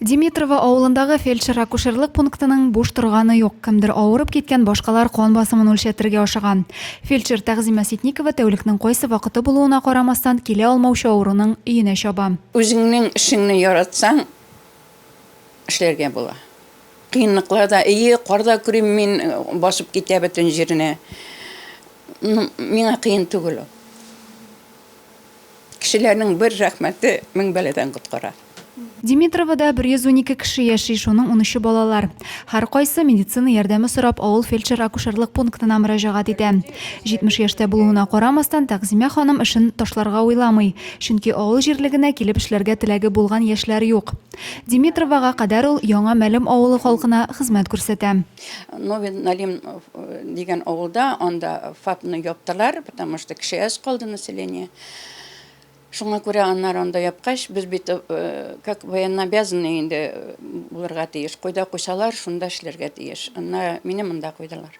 Димитрово авылындагы фельдшер-акушерлык пунктының буш торганы юк. Кемдер авырып киткән, башкалар кан басымын үлчәтергә ашыган. Фельдшер Тәгъзимә Ситникова тәүлекнең кайсы вакыты булуына карамастан, килә алмаучы авыруның өенә чаба. Үзеңнең эшеңне яратсаң, эшләргә була. Кыенлыклар да, әйе, кар да күрим мин, басып китә бөтен җирне. Ну, миңа кыен түгел ул. Кешеләрнең бер рәхмәте мең бәладән коткара. Димитровода 112 кеше яши, шуның унөче балалар. Һәркайсы медицина ярдәме сорап авыл фельдшер-акушерлык пунктына мөрәҗәгать итә. 70 яшьтә булуына карамастан, Тәгъзимә ханым эшен ташларга уйламый, чөнки авыл җирлегенә килеп эшләргә теләге булган яшьләр юк. Димитровога кадәр ул Яңа Мәлем авылы халкына хезмәт күрсәтә. Новин Налим э, дигән авылда, анда ФАПны яптылар, потому что кеше әз калды население. Шуңа күрә аннар анда япкач, без бит э, как военнообязанный инде э, булырга тиеш. Кайда куйсалар, шунда эшләргә тиеш. Анна мине монда куйдылар.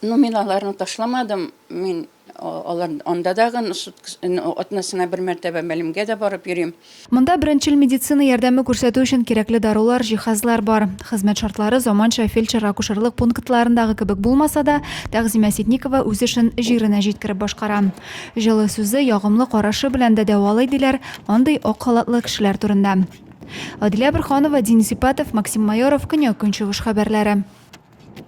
Ну, мин аларны ташламадым, Мин алар анда да гын атнасына бер мәртәбә мәлемгә дә барып йөрим. Монда беренчел медицина ярдәме күрсәтү өчен кирәкле дарулар, җиһазлар бар. Хезмәт шартлары заманча фельдшер-акушерлык пунктларындагы кебек булмаса да, Тәгъзимә Ситникова үз эшен җиренә җиткереп башкара. Җылы сүзе, ягымлы карашы белән дә дәвалый, диләр андый ак халатлы кешеләр турында. Адилә Борһанова, Дин Сипатов, Максим Майоров, Көньяк-Көнчыгыш хәбәрләре.